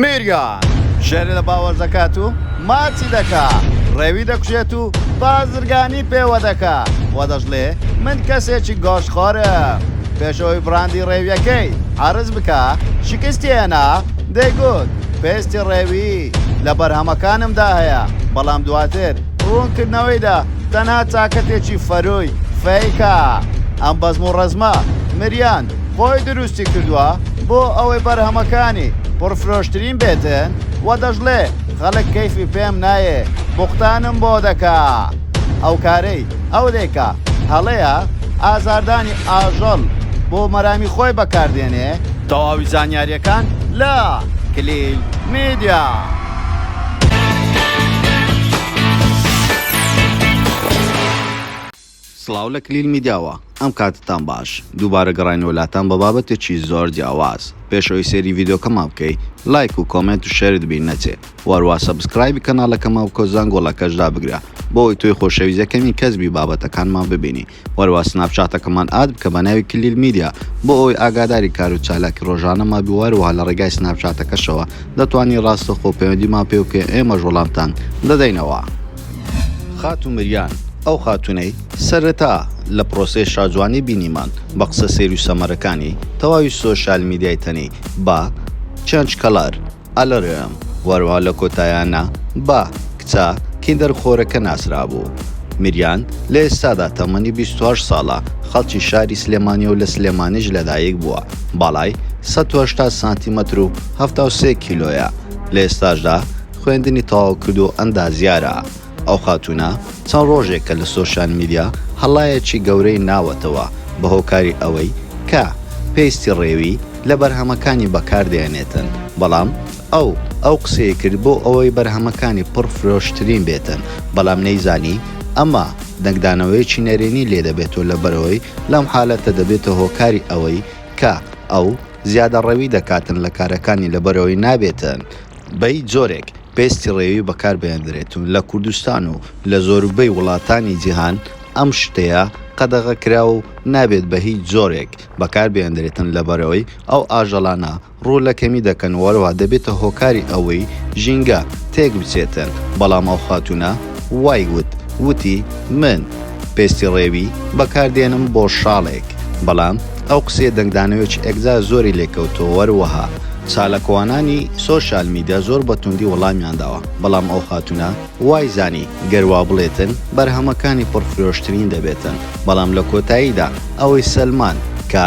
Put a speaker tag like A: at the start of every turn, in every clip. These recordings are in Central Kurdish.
A: میریان ژێری لە باوەش دەکات و ماچی دەکا ڕێوی دەکوژێت و بازرگانی پێوە دەکا و دەشڵێ من کەسێکی گۆش خۆرە پێشەوەی بڕاندی ڕێویەکەی عرز بکە شکستیێنا دەیگوت پێستی ڕێوی لە بەرهەمەکانمدا هەیە بەڵام دواتر ڕوونکردنەوەیدا تەنها چاکەتێکی فەرۆی فەیکە ئەم بەزم و ڕزمە مریان خۆی دروستی کردووە بۆ ئەوەی بەرهەمەکانی پڕفرۆشترین بێتن و دەشڵێ خەڵک کەیفی پێم نایێ بوختانم بۆ دەکا ئەو کارەی ئەو دەیکا هەڵەیە ئازاردانی ئاژەڵ بۆ مەرامی خۆی بەکاردێنێ تەواوی زانیاریەکان لە کلیل میدیا. سڵاو لە کلیل میدیاوە ئەم کاتتان باش دووبارە گەڕاینەوە لاتان بە بابەتێکی زۆر جیاواز پێش ئەوەی سێری ڤیدۆکەمان بکەی لایک و کۆمێنت و شێرت بیر نەچێ و هەروا سەبسکرایبی کەناڵەکەمان بکەو زەنگۆڵەکەش دابگرە بۆ ئەوەی تۆی خۆشەویست یەکەمین کەس بی بابەتەکانمان ببینی و هەروا سناپچاتەکەمان ئاد بکە بە ناوی کلیل میدیا بۆ ئەوەی ئاگاداری کار و چالاکی ڕۆژانەمان بی و هەروەها لە ڕێگای سناپچاتەکەشەوە دەتوانی ڕاستەخۆ پەیوەندیمان پێ بکەی ئێمەش وەڵامتان دەدەینەوە. خاتوو مریان، ئەو خاتوونەی سەرەتا لە پرۆسەی شاجوانی بینیمان بە قسە سەیر و سەمەرەکانی تەواوی سۆشیال میدیای تەنی بە، چێنج کەلەر، ئەلەرم، وەرەوە لە کۆتاییانە بە، کچە کیندەر خۆرەکە، ناسرابوو. مریان لە ئێستادا تەمەنی بیست و هەشت ساڵە، خەڵکی شاری سلێمانیە و لە سلێمانیش لەدایک بووە، باڵای سەد و هەشتا سانتیمەتر و هەفتا و سێ کیلۆیە، لە ئێستاشدا، خوێندنی تەواو کردو ئەندازیارە، ئەو خاتوونە چەند ڕۆژێکە لە سۆشیال میدیا هەڵایەکی گەورەی ناوەتەوە بە هۆکاری ئەوەی کە پێستی ڕێوی لە بەرهەمەکانی بەکار دەهێنێتن بەڵام ئەو ئەو قسەی کرد بۆ ئەوەی بەرهەمەکانی پڕ فرۆشترین بێتن بەڵام نەیزانی ئەمە دەنگدانەوەیەکی نەرێنی لێ دەبێتو لەبەرئەوەی لەم حالەتە دەبێتە هۆکاری ئەوەی کە ئەو زیادەڕەوی دەکاتن لە کارەکانی لەبەرئەوەی نابێتن بە هیچ جۆرێک پێستی ڕێوی بەکار بهێندرێت و لە کوردستان و لە زۆربەی وڵاتانی جیهان ئەم شتەیە قەدەغە کراوە و نابێت بە هیچ جۆرێک بەکار بهێندرێتن لەبەرئەوەی ئەو ئاژەڵانە ڕوو لە کەمی دەکەن و هەروەها دەبێتە هۆکاری ئەوەی ژینگە تێک بچێتن بەڵام ئەو خاتوونە وای وت، وتی، من، پێستی ڕێوی، بەکار دێنم بۆ شاڵێک، بەڵام ئەو قسەیە دەنگدانەوێچ ێکجار زۆری لێ کەوتووە وەروەها چالاکوانانی سۆشیال میدیا زۆر بە توندی وەڵامیان داوە، بەڵام ئەو خاتوونە وای زانی گەر وا بڵێتن بەرهەمەکانی پڕ فرۆشترین دەبێتن، بەڵام لە کۆتاییدا ئەوەی سەلماند کە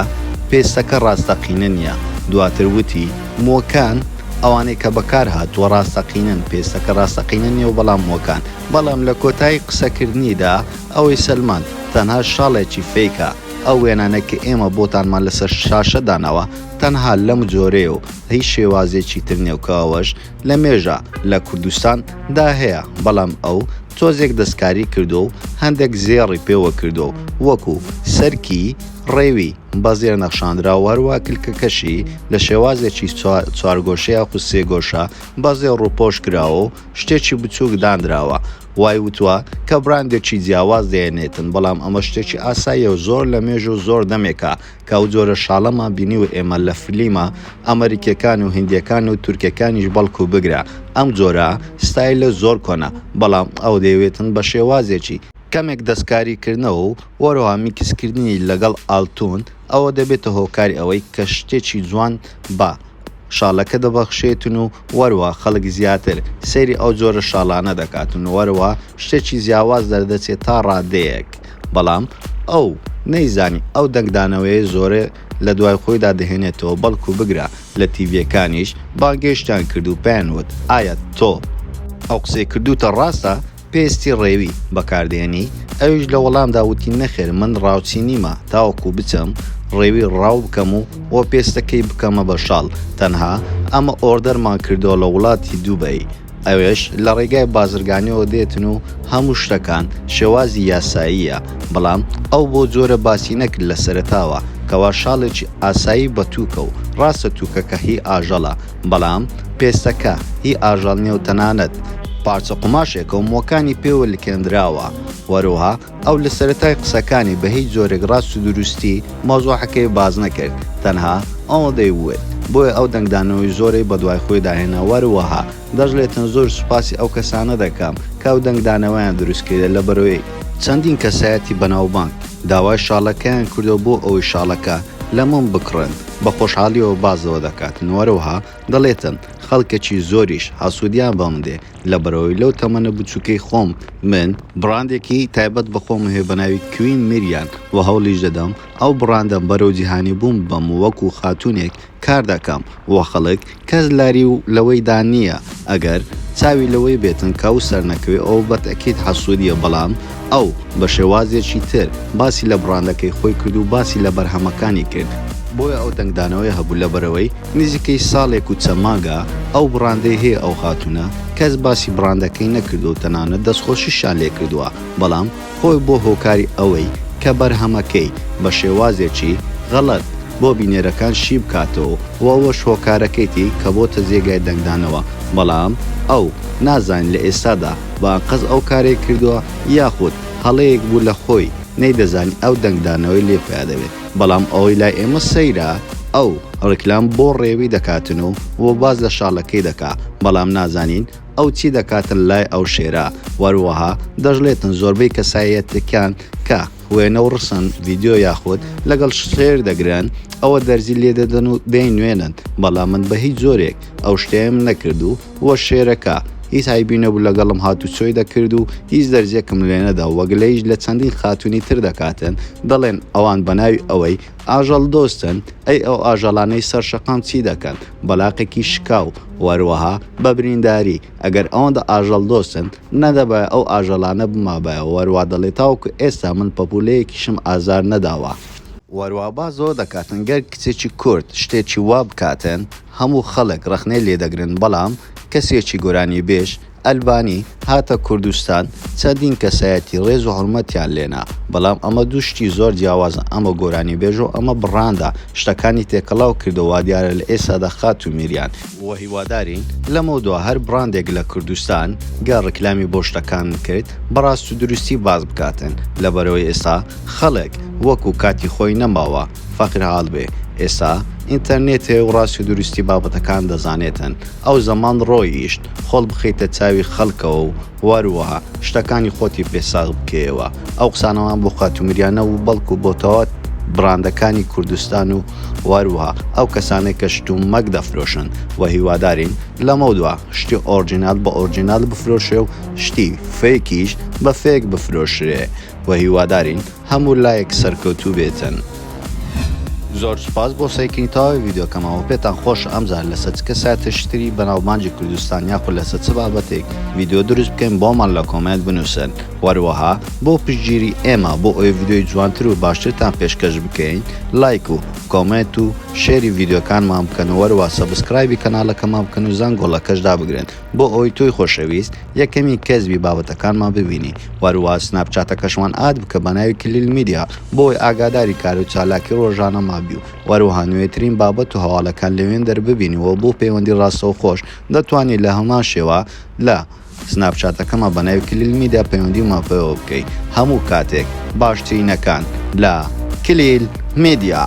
A: پێستەکە ڕاستەقینە نییە، دواتر وتی، مووەکان، ئەوانەی کە بەکارهاتووە ڕاستەقینەن، پێستەکە ڕاستەقینە نییە و بەڵام مووەکان. بەڵام لە کۆتایی قسەکردنیدا ئەوەی سەلماند، تەنها شاڵێکی فەیکە، ئەو وێنانەی کە ئێمە بۆتانمان لەسەر شاشە داناوە تەنها لەم جۆرەیە و هیچ شێوازێکی تر نییە و کە ئەوەش لە مێژە لە کوردستان دا هەیە بەڵام ئەو تۆزێک دەستکاری کردووە و هەندێک زێڕی پێوە کردووە و وەکو سەرکی ڕێوی بە زێر نەخشاندرا و هەروەها کلکەکەشی لە شێوازێکی چوارگۆشە یاخود سێگۆشە بە زێڕ ڕووپۆش کراوە و شتێکی بچووک دانراوە وای وتوە کە براندێکی جیاواز دێنێتن بەڵام ئەمە شتێکی ئاساییە و زۆر لە مێژ و زۆر دەمێکە کە ئەو جۆرە شاڵەمان بینی و ئێمە لە فلیمە ئەمریکیەکان و هندیەکان و تورکەکانیش بەڵکو بگرە ئەم جۆرە ستایلە زۆر کۆنە بەڵام ئەو دەیەوێتن بە شێوازێکی کەمێک دەستکاریکردنەوە و وەرەوها میکسکردنی لەگەڵ ئالتون ەوە دەبێتە هۆکاری ئەوەی کە شتێکی جوان بە شاڵەکە دەبەخشێتن و وەرەوها خەڵک زیاتر سەیری ئەو جۆرە شاڵانە دەکاتن و وەرەوها شتێکی جیاواز دەردەچێت تا ڕادەیەک بەڵام ئەو نەیزانی ئەو دەنگدانەوەیە زۆرە لە دوای خۆیدا دەهێنێتەوە بەڵکو بگرە لە تیڤیەکانیش بانگێشتیان کرد و پێیان وت ئایا تۆ ئەو قسەی کردوتە ڕاستە؟ پێستی ڕێوی بەکاردێنی؟ ئەویش لە وەڵامدا وتی نەخێر من ڕاوچی نیمە تاوەکو بچم ڕێوی ڕاو بکەم و و پێستەکەی بکەمە بە شاڵ تەنها ئەمە ئۆردەرمان کردووە لە وڵاتی دوبەی ئەوێش لە ڕێگای بازرگانیەوە دێتن و هەموو شتەکان شێوازی یاساییە بەڵام ئەو بۆ جۆرە باسی نەکرد لە سەرەتاوە کەوا شاڵێکی ئاسایی بە توکە و ڕاستە توکەکە هی ئاژەڵە بەڵام پێستەکە هی ئاژەڵ نیە و تەنانەت پارچە قوماشێکە و مۆکانی پێوە لکێندراوە. وەروها ئەو لە سەرەتای قسەکانی بە هیچ جۆرێک ڕاست و دروستی مەوزوعەکەی باس نەکرد تەنها ئەوەندەی وت بۆیە ئەو دەنگدانەوەی زۆرەی بە دوای خۆیدا هێنا وەروەها دەشڵێتن زۆر سوپاسی ئەو کەسانە دەکەم کە ئەو دەنگدانەوەیان دروست کردە لە بەرۆی چەندین کەسایەتی بەناوبانگ داوای شاڵەکەیان کردوە بۆ ئەوەی شاڵەکە لە مۆم بکڕن. بە خۆشحاڵیەوە باس لەوە دەکاتن وەرەوها دەڵێتن خەڵکەکی زۆریش حاسودیان بەم دێ لەبەرئەوەی لەو تەمەنە بچوکەی خۆم من بڕاندێکی تایبەت بە خۆم هەیە بەناوی کوین میریان وە هەوڵیش دەدەم ئەو بڕاندەم بەرەو جیهانی بوون ببەم وەکو خاتونێک کار دەکەم وە خەڵک. کەس لاری و لەوەی دا نییە ئەگەر چاوی لەوەی بێتن کە ئەو سەرنەکەوێ ئەوە بە تەئکید حەسوودییە بەڵام ئەو بە شێوازێکی تر باسی لە بڕاندەکەی خۆی کرد و باسی لە بەرهەمەکانی کرد. بۆیە ئەو دەنگدانەوەی هەبوو لەبەرئەوەی نزیکەی ساڵێک و چەند مانگە ئەو بڕاندەی هەیە ئەو خاتوونە کەس باسی بڕاندەکەی نەکردووە و تەنانەت دەستخۆشیشیان لێ کردووە بەڵام خۆی بووە هۆکاری ئەوەی کە بەرهەمەکەی بە شێوازێکی غەڵەت بۆ بینەرەکان شی بکاتەوە و ئەوەش هۆکارەکەیتی کە بۆتە جێگای دەنگدانەوە، بەڵام ئەو نازانێت لە ئێستادا بە ئەنقەست ئەو کارەی کردووە یاخود هەڵەیەک بوو لە خۆی نەیدەزانی ئەو دەنگدانەوەی لێ پیادەبێت. بەڵام ئەوەی لای ئێمە سەیرە ئەو ڕیکلام بۆ ڕێوی دەکاتن و باس لە شاڵەکەی دەکات بەڵام نازانین ئەو چی دەکاتن لای ئەو شێرە وەروەها دەژلێتن زۆربەی کەسایەتەکان کە وێنە و ڕسن ڤیددیو یاخود لەگەڵ شێر دەگرن ئەوە دەرزی لێ دەدەن و بێن نوێنن بەڵام من بە هیچ زۆرێک ئەو شتێم نەکرد و وە شێرەکە هیچ هایبی نەبوو لەگەڵم هات و چۆی دەکرد و هیچ دەرزێکم لێنەدا وەگلەیش لە چەندین خاتونی تر دەکاتن دەڵێن ئەوان بەناوی ئەوەی ئاژەڵ دۆستن، ئەی ئەو ئاژەڵانەی سەر شەقام چی دەکەن؟ بەلاقێکی شکاو، وەروەها بە برینداری، ئەگەر ئەوەندە ئاژەڵ دۆستن، نەدەبایە ئەو ئاژەڵانە بمابایەوە، وەروا دەڵێت تاوەکو ئێستا من پەپولەیەکیشم ئازار نەداوە. وەروا با زۆر دەکاتن گەر کچێکی کورد شتێکی وا بکاتن هەموو خەڵک ڕەخنەی لێدەگرن بەڵام کەسێکی گۆرانیبێژ، ئەلبانی هاتە کوردستان چەندین کەسایەتی ڕێز و حورمەتیان لێنا بەڵام ئەمە دوو شتی زۆر جیاوازە ئەمە گۆرانی بێژە و ئەمە بڕاندە شتەکانی تێکەڵاو کردوە وادیارە لە ئێستادا خاتوو میریان و هیوادارین لەمەو دوا هەر بڕاندێک لە کوردستان گەر ڕیکلامی بۆ شتەکان کرد بە ڕاست و دروستی باس بکاتن لەبەرئەوەی ئێستا خەڵک وەکو کاتی خۆی نەماوە فەقیر حاڵ بێ ئێستا ئینتەرنێتێ و ڕاستی و دروستی بابەتەکان دەزانێتن ئەو زەمان ڕۆییشت خۆڵ بخەیتە چاوی خەڵکەوە و وەروا شتەکانی خۆتی پێ ساغ بکەیەوە. ئەو قسانەمان بۆ خاتوو مریا نەبوو بەڵکوو بۆ تەواو بڕاندەکانی کوردستان و وەروا ئەو کەسانەی کە شت و مەک دەفرۆشن و هیوادارین لەمەودوا شتی ئۆرجینال بە ئۆرجینال بفرۆشرێ و شتی فەیکیش بە فەیک بفرۆشرێ و هیوادارین هەموو لایەک سەرکەوتوو بێتن. زۆر سوپاس بۆ سەیکردنی تەواوی ڤیدیۆکەمەوە پێتان خۆشە ئەمجار لەسە چ کەسایەتێکی تری بەناوبانگی کوردستان یاخود لەسە چ بابەتێک ڤیدیۆ دروست بکەین بۆمان لە کۆمێنت بنوسن وەروەها بۆ پشتگیری ئێمە بۆ ئەوەی ڤیدیۆی جوانتر و باشترتان پێشکەش بکەین لایک و کۆمێنت و شێری ڤیدیۆکانمان بکەن و وەروەها سەبسکرایبی کەناڵەکەمان بکەن و زەنگۆڵەکەش دابگرن بۆ ئەوەی تۆی خۆشەویست یەکەمین کەس بی بابەتەکانمان ببینی وەروە سناپ چاتەکەشمان ئاد بکە بە ناوی کلیل میدیا بۆوەی ئاگاداری کارو چالاکی ڕۆژانەمان بی و وەروەها نوێترین بابەت و هەواڵەکان لەوێن دەر ببینی وە بۆ پەیوەندی ڕاستەوخۆش دەتوانی لە هەمان شێوە لە سناپ چاتەکەمان بە ناوی کلیل میدیا پەیوەندیمان پێوە بکەی هەموو کاتێک باشترینەکان لە کلیل میدیا.